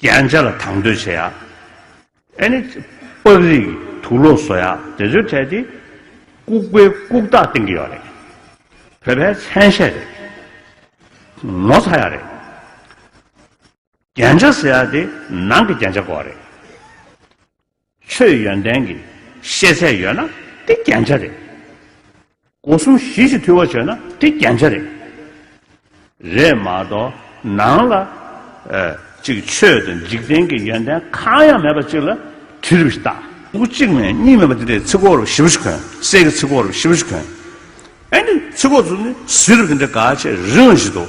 རྒྱན་ཆ་ལ་དང་དོད་བྱེད་ཡག། ཨེ་ནི། པགས་རིགས་ཀྱི་དུག་ལོག་བཟོ་ཡག་དེ་ཚོའི་གྲས་དེ། ལྐུགས་པའི་ལྐུགས་རྟགས་བསྟན་གྱི་ཡོད་རེད། བོད་པའི་མཚན་ཤས་རེད། ངོ་ཚ་ཡག་རེད། རྒྱན་ཆ་ཟེར་ཡག་དེ་ནང་གི་རྒྱན་ཆ་གོ་བ་རེད། ཆོས་ཡོན་ཏན་གྱི་ཤེས་ཚད་ཡོད་ན་དེ་རྒྱན་ཆ་རེད། སྒོ་གསུམ་གཞི་གཅིག་འཐུས་བ་བྱོས་ན་དེ་རྒྱན་ཆ་རེད། རེད་མ་གཏོགས་ནང་ལ་ཅིག་ཆོས་དང་འཇིག་རྟེན་གྱི་ཡོན་ཏན་གང་ཡང་མེད་པ་ཅིག་ལ་དུས་རབས་ཤིག་བཏགས། སྐུ་གཅིག་ནས་གཉིས་མེད་པ་འདི་འདྲའི་ཚིག་གོ་རུ་ཞི་བ་ཞིག་གོན། སྲས་ཀྱི་ཚིག་གོ་རུ་ཞི་བ་ཞིག་གོན། ཨེ་འདི་ཚིག་གོ་རུ་ནི་བཟི་རུ་འདི་འདྲའི་དགའ་ཆེ་རིང་ཞིག་འདུག།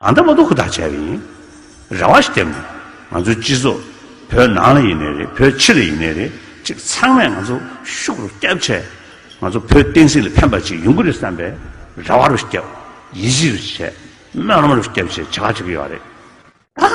ཨ་མདོ་མ་མདོ་ཧུར་ཐག་བྱས་པ་ཡིན། རེ་བ་ཞིག་བསྟན། ང་ཚོའི་སྤྱི་ཚོགས་བོད་ནང་ལ་ཡིན་ནས་རེད་བོད་ཕྱི་ལ་ཡིན་ནས་རེད་ཅིག་ཚང་མས་ང་ཚོ་ཤུགས་རུ་བསྐྱབས་ཆེད། ང་ཚོ་བོད་བསྟན་སྲིད་ལ་ཕན་པ་ཅིག་ཡོང་གི་རེད་བསམ་པའི་རེ་བ་རུ་བསྐྱབས། ཡིད་ཆེས་རུ་བྱས། སྨོན་ལམ་རུ་བསྐྱབས་ཅེས་བྱ་བ་བྱེད་ཀྱི་ཡོད་རེད། ད།